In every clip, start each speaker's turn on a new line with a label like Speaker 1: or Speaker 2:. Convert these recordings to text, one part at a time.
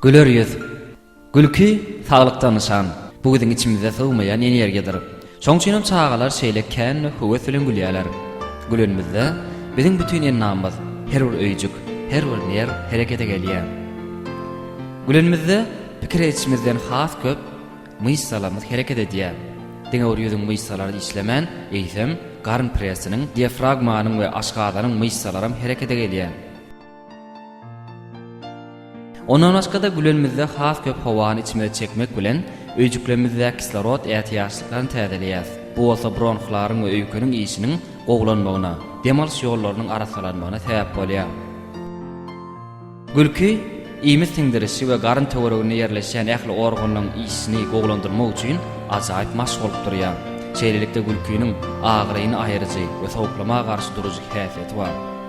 Speaker 1: Güler ýüz. Gülki, saglykda nyşan. Bu biziň içimizde sygmaýan energiýadyr. Şoň üçin hem çagalar şeýle kän we höwes bilen gülýärler. Gülenimizde, biziň bütin endamymyz, her bir öýjük, her bir nerw herekete gelýär. Gülenimizde, pikir edişimizden has köp myşsalarymyz hereket edýär. Diňe bir ýüzüň myşsalary işlemän, eýsem, garyn pressiniň, diafragmanyň we aşgazanyň myşsalaram herekete gelýär. Ondan başga-da gülenimizde has köp howany içimize çekmek bilen, öýjüklerimizdäki kislorod ätiýaçlyklaryny täzeleýäris. Bu bolsa bronhlaryň we öýkeniň işiniň gowulanmagyna, dem alyş ýollarynyň arassalanmagyna sebäp bolýar. Gülki, iýmit siňdirişi we garyn töwereginde ýerleşýän ähli organlaryň işini gowulandyrmak üçin ajaýyp maşk bolup durýar. Şeýlelikde gülkiniň agyryny aýyryjy we sowuklama garşy durujy häsiýeti bar.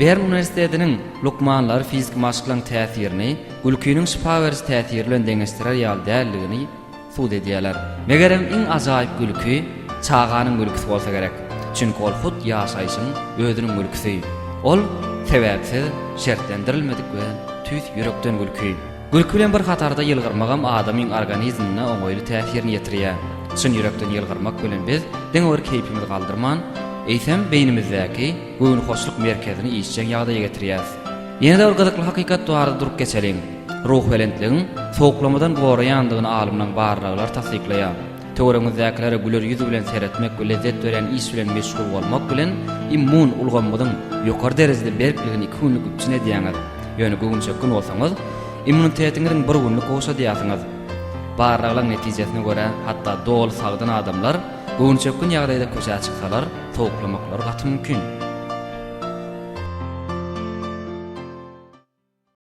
Speaker 1: Bern uniwersitetiniň lukmanlary fiziki maşklaryň täsirini gülkiniň şypa beriji täsiri bilen deňeşdirer ýaly däldigini subut edýärler. Megerem, iň ajaýyp gülki çaganyň gülkisi bolsa gerek. Çünki ol hut ýaşaýşyň özüniň gülkisi. Ol sebäpsiz, şertlendirilmedik we tüýs ýürekden gülki. Gülki bilen bir hatarda ýylgyrmagam adamyň organizmine oňaýly täsirini ýetirýär. Çyn ýürekden ýylgyrmak bilen biz diňe bir keýpimizi galdyrman, eýsem, beýnimizdäki göwnühoşluk merkezini işjeň ýagdaýa getirýäris. Ýene-de bir gyzykly hakykat barada durup geçeliň. Ruhubelentligiň sowuklamadan goraýandygyny alymlaryň barlaglary tassyklaýar. Töweregiňizdäkilere güler ýüz bilen seretmek we lezzet berýän iş bilen meşgul bolmak bilen immun ulgamyňyzyň ýokary derejede berkligini iki günlük üpjün edýäňiz, ýöne göwünçökgün bolsaňyz, immunitetiňiziň bir günlük gowşadýarsyňyz. Barlaglaryň netijesine görä, hatda doly sagdyn adamlar göwünçökgün ýagdaýda köçä çyksalar, sowuklamaklary gaty mümkin.